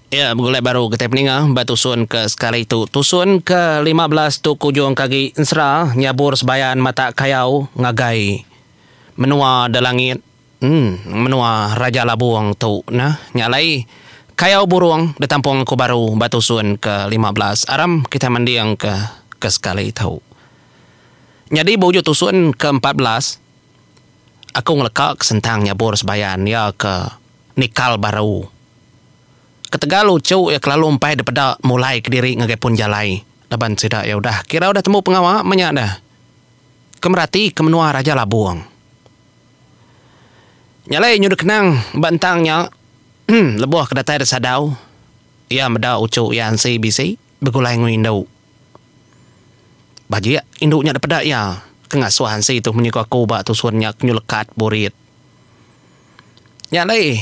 Iya begulai baru kitai peninga ba tusun ke sekali tu. Tusun ke lima belas tu kujung ke agi ensera nyabur sebayan mata kayau ngagai menua da langit emm menua Raja Labong tu nah. Nya alai kayau burong da tampung aku baru ba tusun ke lima belas aram kitai mending ke ke sekali tu. Nyadi ba ujung tusun ke empat belas aku ngeleka ke sentang nyabur sebayan iya ke. nikal baru. Ketegal uchu iya kelalu empai depeda mulai kediri ngagai pun jalai laban sida iya udah kira udah tembu pengawa menya dah ke merati ke menua Raja Labong. Nya alai nyu dikenang ba entang nya lebuh ke datai disadau iya meda uchu iya ansi bisi begulai enggau indu. Bajik indu nya depeda iya ke ngasuh ansi tu menyuka ku ba tusun nya ke nyu lekat burit. Nya alai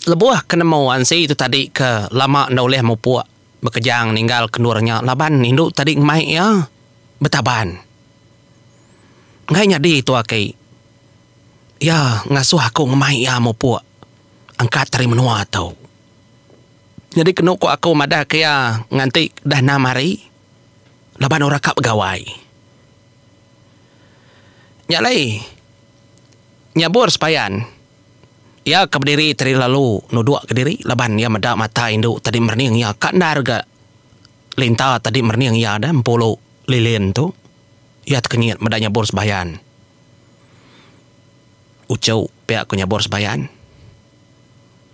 lebuh ke nemu ansi tu tadi ke lama enda ulih mupuk bekejang ninggal ke endur nya laban indu tadi ngemai iya betaban. Enggai nyadi tu aki iya ngasuh aku ngemai iya mupuk angkat ari menua tu. Nyadi kenu ku aku madah ke iya nganti dah enam hari laban orang ka begawai. Nya alai. Nyabur sepayan, iya ke bediri tadi lalu nuduk ke diri laban iya meda mata indu tadi merening iya ka endar ga Linta tadi merening iya da empulu lilin tu. Iya tekenyit meda nyabur sepayan. Uchu pia ku nyabur sepayan.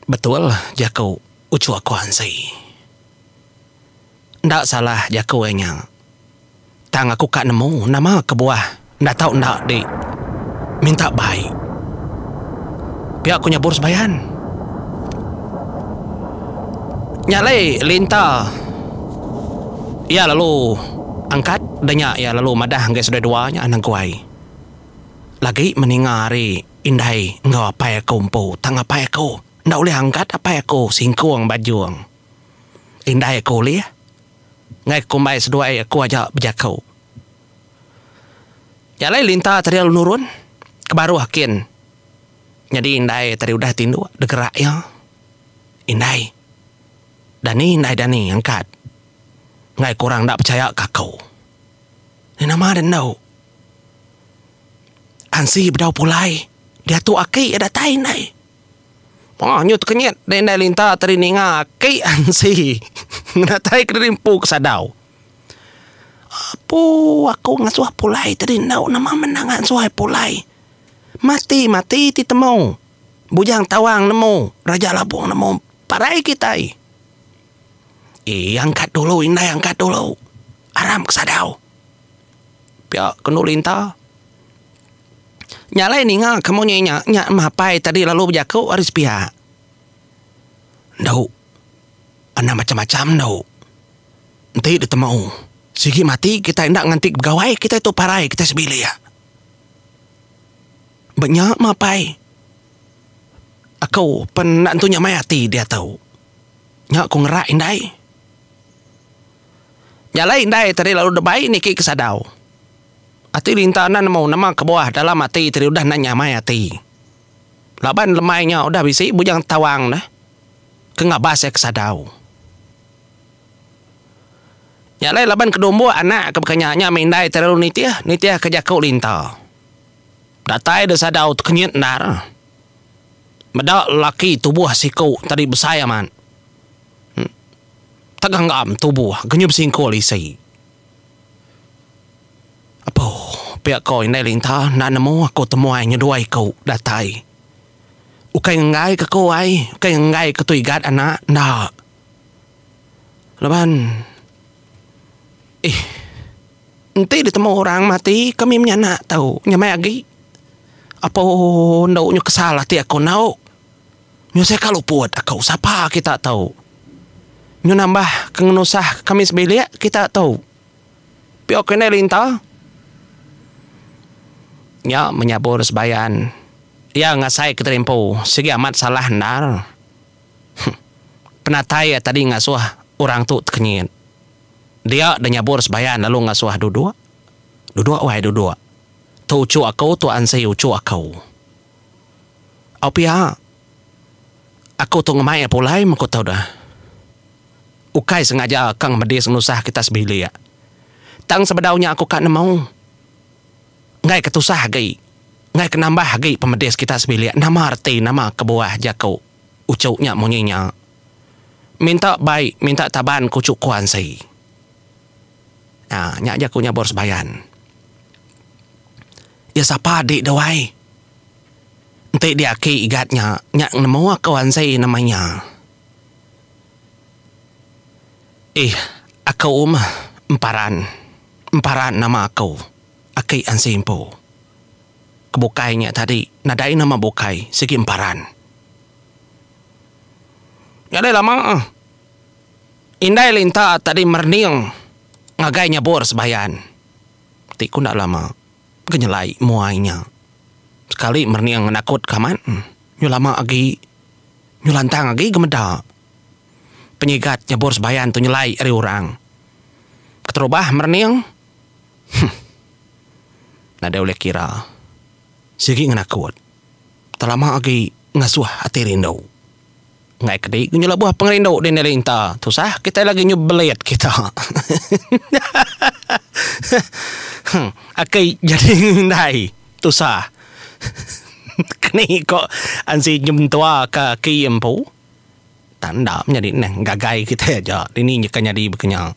Betul jaku uchu aku ansi. Enda salah jaku iya nya. Tang aku ka nemu nama kebuah enda tau enda di minta bai. Pia ku nyabur sembayan. Nya alai Linta iya lalu angkat da nya iya lalu madah enggai seduai dua nya Naguai. Lagi meninga ari indai enggau apai aku empu tang apai aku enda ulih angkat apai aku singkung bajung. Indai aku ulih enggai kumbai seduai aku aja bejaku. Nya alai Linta Teril nurun ke baruh kin nyadi indai tadi udah ti indu dek gerak iya. Indai dani indai dani angkat enggai ku orang enda pechaya ka aku. Ni nama deh endu. Ansi bedau pulai diatu aki iya datai indai. Maah nyu tekenyit deh indai Linta tadi ninga aki ansi ngenatai kediri empu ke sadau. Apu aku ngasuh pulai tadi enda nama menang angai suai pulai. Mati-mati ti temu. Bujang Tawang nemu, Raja Labong nemu parai kitai. Ih angkat dulu indai angkat dulu. Aram ke sadau. Pia ke enu Linta. Nya alai ninga ke munyi nya, nya meh apai tadi lalu bejaku ari sepiak. Endo. Anang macam-macam endo. Enti ditemu, sigi mati kitai enda nganti ke begawai kitai tu parai kitai sebilik. Ba nya meh apai. Aku pen enda tentu nyamai ati diatu. Nya ku ngerak indai. Nya alai indai tadi lalu debai niki ke sadau. Ati Linta enda nemu nama kebuah dalam ati tadi udah enda nyamai ati. Laban lemai nya udah bisi Bujang Tawang neh ke ngabas iya ke sadau. Nya alai laban ke dumbuk anak ke bekanya nya meh indai tadi lalu nitih, nitih ke jaku Linta. Datai da sadau tekenyit endar. Meda lelaki tubuh siku tadi besai amat. Teganggam tubuh genyup singkul isi. Apu, pia ko indai linta enda nemu aku temuai nyeduai ku datai. Ukai ngenggai ke ku ai, ukai ngenggai ke tu igat anak enda. Laban ih enti ditemu orang mati kami menyanak tu nyamai agi. Apu endo nyu kesal ati aku endo. Nyu seka luput aku sapa kita tu. Nyu nambah ke ngenusah ke kami sebilik kita tu. Piok indai linta. Nya menyabur sebayan iya ngasai ke terimpu sigi amat salah endar. Huh. Penatai iya tadi ngasuh orang tu tekenyit. Dia da nyabur sebayan lalu ngasuh duduk. Duduk wai duduk. Tu uchu aku tu ansi uchu aku. Au pia. Aku tu ngemai iya pulai meh ku tu deh. Ukai sengaja ka ngemedis nusah kita sebilik. Tang sebedau nya aku ka nemu. Enggai ke tusah agi, enggai ke nambah agi pemedis kita sebilik nama reti nama kebuah jaku uchu nya munyi nya. Minta bai minta taban ku uchu kuan si. Nya nya jaku nya Bor Sebayan. Iya sapa adi da wai. Enti di aki igat nya nya nemu aku anzi nama iya. Ih aku meh emparan emparan nama aku aki anzi empu. Ke bukai nya tadi nadai nama bukai sigi emparan. Nya deh lama ah. Indai linta tadi merening ngagai nyabur sebayan. ti ku enda lama ke nyelai muai nya sekali merening nakut ke amat nyu lama agi nyu lantang agi ke meda penyigat nyebur sebayan tu nyelai ari orang keterubah merening huh nadai ulih kira sigi ngenakut telama agi ngasuh ati rindu. Enggai ke di nyu lebuh pengerindu dini ari enta. Tusah kitai lagi nyu belit kita. Aki jadi indai tusah. Keni ko ansi nyu mentua ka aki empu. Tang enda menyadi neh ngagai kitai aja dini nyeka nyadi baka nya.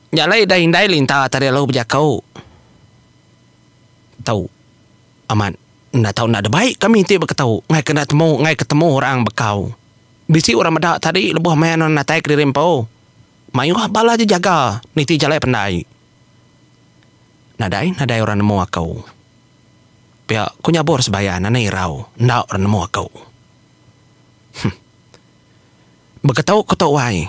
Nya alai indai linta tadi lalu bejaku tu. Amat, enda tau enda ada baik kami ti beketau ngaika enda temu ngaika ketemu orang bekau. Bisi orang meda tadi lebuh maya nuan natai kediri empu. Mayuh bala je jaga niti jalai pendai. Nadai nadai orang nemu aku. Pia ku nyabur Sebayan anang irau enda orang nemu aku. Huh. Beketau ku tu wai.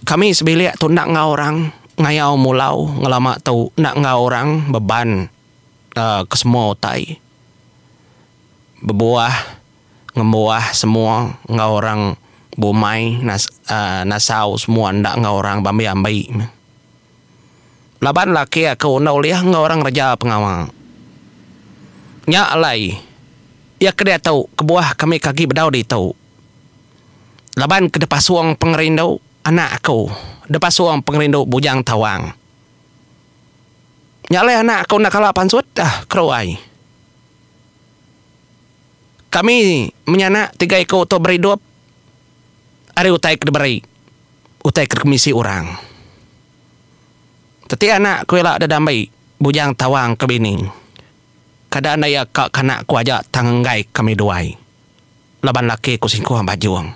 Kami sebilik tu enda enggau orang ngayau mulau ngelama tu enda enggau orang beban. kesemua utai bebuah ngembuah semua enggau orang bumai nasau semua enda enggau orang be ambi-ambi meh. Laban laki aku enda ulih enggau orang reja pengawa. Nya alai iya ke diatu kebuah kami ke agi bedau ditu. Laban ke dipasung pengerindu anak aku, dipasung pengerindu bujang tawang. Nya alai anak aku enda kala pansut dah keru ai. Kami menyanak tiga iku tu beridup ari utai ke diberi, utai ke dikemisi orang. Teti anak aku ila deda ambi bujang tawang ke bini. Kada enda iya ka kanak aku aja tang enggai kami duai. Laban laki ku singkuh bajung.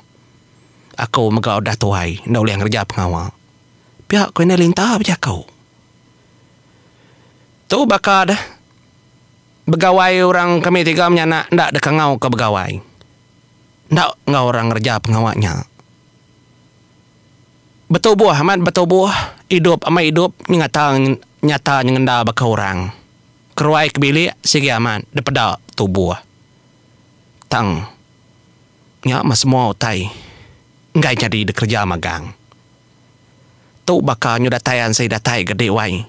Aku mega udah tuai enda ulih ngereja pengawa. Pia ku indai Linta bejaku. Tu baka deh begawai orang kami tiga menyanak enda dikangau ke begawai. Enda enggau orang ngereja pengawa nya. Betubuh amat betubuh, idup amat idup nyengata nyata nyengenda baka orang. Keruai ke bilik sigi amat dipeda tubuh. Tang nya meh semua utai. enggai nyadi dikereja magang. Tu baka nyu datai ansi datai ga dek wai.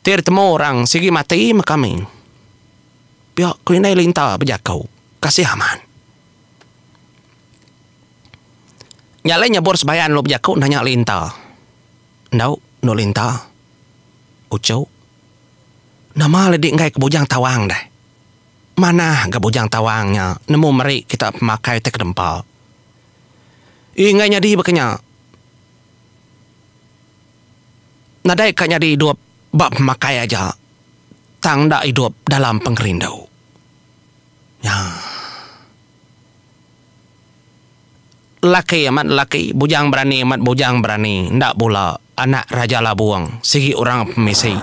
Ti ditemu orang sigi mati meh kami. Pia ku indai Linta bejaku kasih amat. Nya alai nyebut sebayan lalu bejaku nanya Linta. Endo, Endok Linta. Uchu. Nama alai dik enggai ke Bujang Tawang deh. Manah ga Bujang Tawang nya nemu meri kita pemakai ti kedempa. Ii enggai nyadi baka nya. Nadai ka nyadi idup ba pemakai aja tang enda idup dalam pengerindu. Nya. Lelaki amat lelaki, bujang berani amat bujang berani, enda bula anak Raja Labung sigi orang pemisi.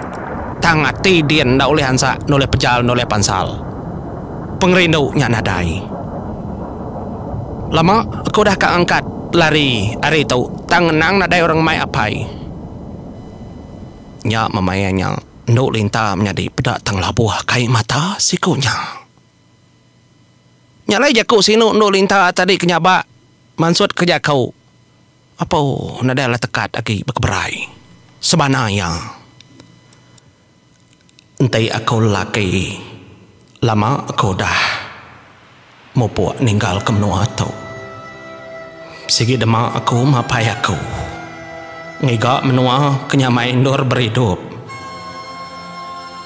Tang ati din enda ulih ansak nulih pejal nulih pansal. Pengerindu nya nadai. Lama aku udah ka ngangkat lari ari tu tang ngenang nadai orang mai apai. Nya memaya nya endu linta menyadi peda tang labuh kai mata siku nya. Nya alai jaku sinu endu linta tadi ke nyaba mansut ke jaku Apau nadai alah tekat agi bekeberai sebana iya enti aku lelaki lama aku udah mupuk ninggal ke menua tu. Sigi dema aku mapai aku. Ngiga menua ke nyamai endur beridup.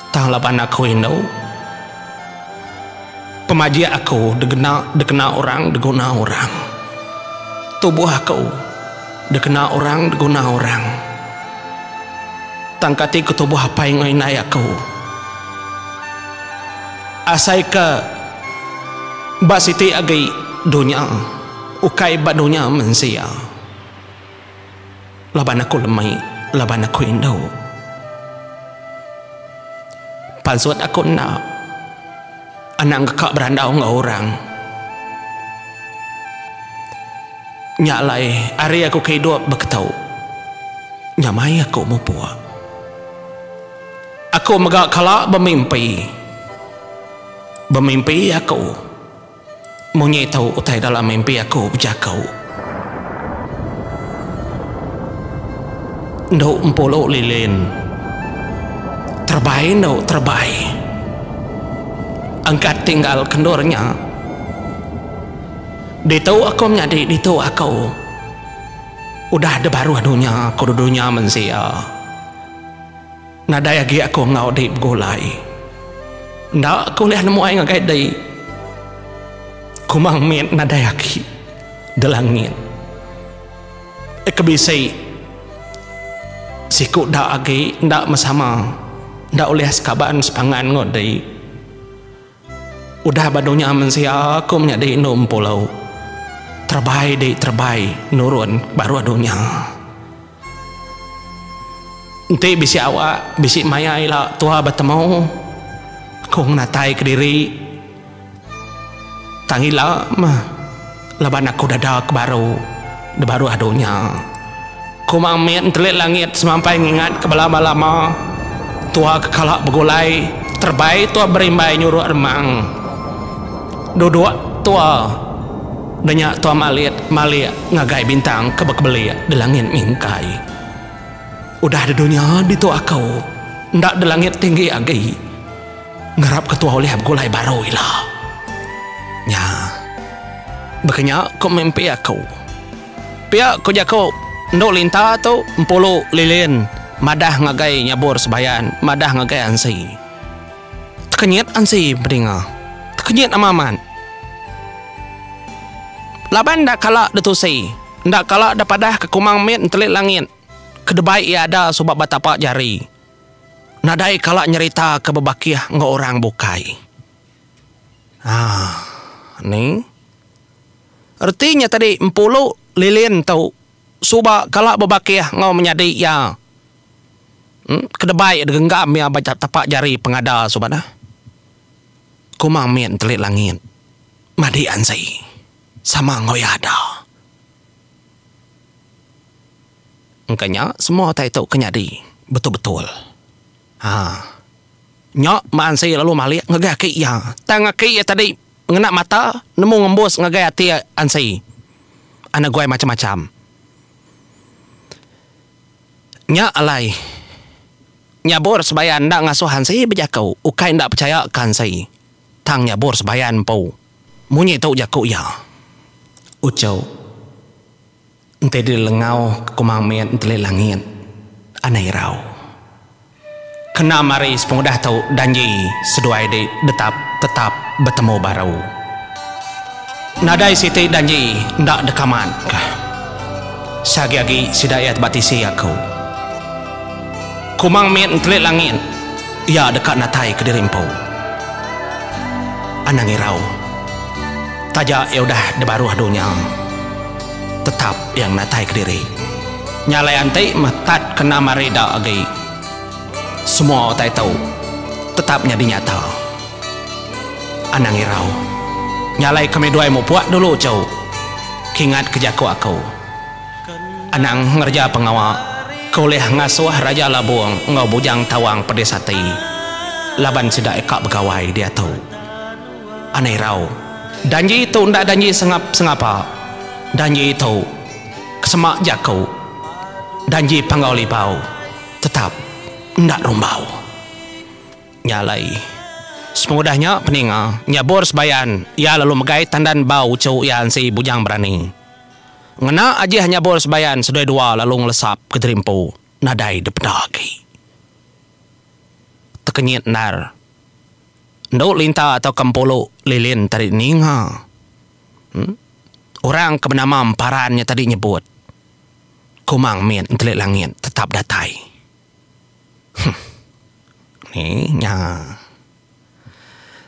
Tang laban aku indu. Pemajik aku degena dikena orang diguna orang. Tubuh aku dikena orang diguna orang. Tang kati ke tubuh apai enggau indai aku. Asaika ba siti agi dunya. Ukai ba dunya mensia. Laban aku lemi, laban aku indu. Pansut aku enda anang deka berandau enggau orang. Nya alai ari aku ke idup beketu, nya mai aku mupuk. Aku mega kala bemimpi. Bemimpi aku. Munyi tu utai dalam mimpi aku bejaku. Endo empulu lilin. Terebai endo terebai. Angkat tinggal kendur nya. Ditu aku menyadi ditu aku. Udah debaruh dunya ku dunya mensia. Nadai agi aku enggau dei begulai. Enda aku ulih nemuai ngagai dei. Kumang mit nadai agi di langit. Ke bisi siku da agi enda mesama enda ulih sekaban sepangan enggau dei. Udah badu nya mensia aku menyadi indu empu lauk. Terebai dek terebai nurun baru adu nya. Enti bisi awak bisi maya ila tua betemu aku ngenatai kediri tang ila meh. Laban aku dada ke baru di baruh dunya. Ku Mang Mit entelik langit semampai ngingatka bala ba lama tua ke kala begulai terebai tua berimbai nyuruk remang. Duduk tua denya tua malit malik ngagai bintang ke bekebelik di langit mingkai. Udah di dunya ditu aku enda di langit tinggi agi. Ngarap ketua ulih begulai baru ila. Nya. Baka nya ku mimpi aku. Pia ku jaku Endu Linta tu Empulu Lilin madah ngagai Nyabur Sebayan madah ngagai Ansi. Tekenyit Ansi bedinga. Tekenyit ama amat. Laban enda kala ditusi, enda kala depadahka kumang mit entelit langit ke debai iya ada suba betapa jari. nadai kala nyerita ke bebakih enggau orang bukai. Haa ni reti nya tadi empulu lilin tu suba kala bebakih enggau menyadi iya uhh kedebai degenggam iya ba tapak jari pengada suba neh. Kuma mit enteli langit madi anzi sama enggau iya ada. Engka nya semua utai tu ke nyadi betul-betul. Ha. Nya Maan Sri lalu malik ngagai aki iya. Tang aki iya tadi ngena mata nemu ngembus ngagai ati Aan Sri. Ana guai macam-macam. Nya alai Nyabur Sebayan enda ngasuh Aan Sri bejaku ukai enda pechaya ke Aan Sri. Tang Nyabur Sebayan empu. Munyi tu jaku iya. Uchu. Enti diri lengau ke Kumang Mit Enteli Langit, anai irau. Kena mari sepengudah tu danji seduai di detap tetap betemu baru. Nadai siti danji enda deka mat ka. Seagi-agi sida iya ba tisi aku. Kumang Mit Enteli Langit iya deka natai ke diri empu. Anang irau. Taja iya udah dibaruh dunya. tetap iya ngenatai kediri. Nya alai anti meh tat kena mari da agi. Semua utai tu tetap nyadi nyata. Anang irau. Nya alai kami duai mupuk dulu cu. Kingat ke jaku aku. Anang ngereja pengawa ke ulih ngasuh Raja Labong enggau Bujang Tawang pedis ati laban sida deka begawai diatu. anai rau. Danji tu enda danji sengap sengapa, danji tu kesema jaku, danji panggau libau tetap enda rumbau. Nya alai, sepengudah nya peninga nyabur sebayan iya lalu megai tandan bau uchu iya ensi Bujang Berani. Ngena ajih nyabur sebayan seduai dua lalu ngelesap ke jerimpu nadai dipeda agi. Tekenyit endar. Endo Linta tauka Empulu Lilin tadi ninga orang ke benama Emparan nya tadi nyebut Kumang mit entelik langit tetap datai. Huh. Ni nya.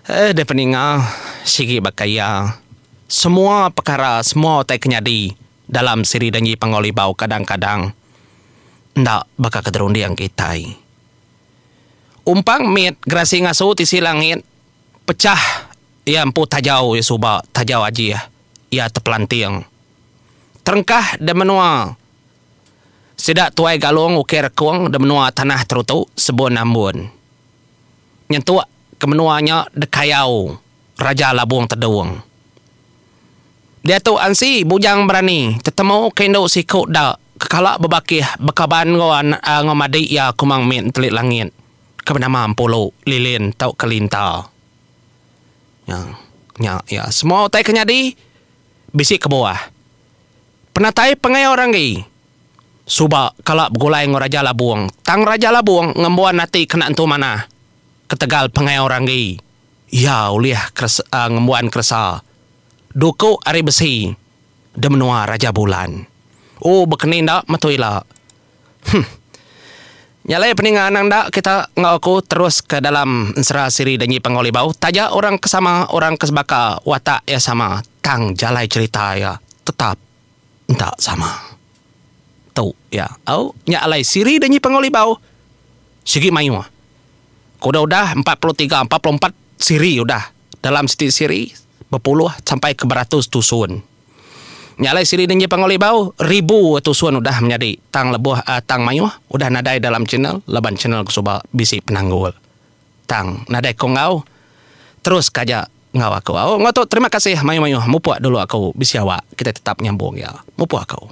Eh deh peninga sigi baka iya semua pekara semua utai ke nyadi dalam siri Dangi Panggau Libau kadang-kadang enda baka ke terunding kitai. Umpang mit gerasi ngasu tisi langit pechah iya empu tajau iya suba tajau ajih iya tepelanting terengkah da menua sida tuai galung ukai rekung da menua tanah terutu sebun ambun nyentuk ke menua nya dekayau raja labung tedung Diatu ansi bujang berani tetemu ke indu siku da ke kala bebakih bekaban enggau madi iya ku Mang Mit Entelik Langit ke benama Empulu Lilin tauka Linta. Nya nya iya semua utai ke nyadi bisi kebuah penatai pangai orang agi suba kala begulai enggau Raja Labong tang Raja Labong ngembuan ati kena entu manah ketegal pangai orang agi Iya ulih keresa ngembuan keresa duku ari besi di menua Raja Bulan. Oh bekeni enda metu ila. Huh. Nya alai peninga anang enda kita enggau aku terus ke dalam ensera siri Danji Panggau Libau taja orang ke sama orang ke sebaka watak iya sama tang jalai cherita iya tetap enda sama. Tu iya au nya alai siri da nyipang oli bau sigi mayuh. Ku da udah empat puluh tiga empat puluh empat siri udah dalam siti siri bepuluh sampai ke beratus tusun. Nya alai siri da nyipang oli bau ribu tusun udah menyadi tang lebuh tang mayuh udah nadai dalam channel laban channel ke suba bisi penanggul. Tang nadai ko enggau terus ka aja enggau aku. Au enggau tu terima kasih mayuh mayuh mupuk dulu aku bisi awak kitai tetap nyambung iya mupuk aku.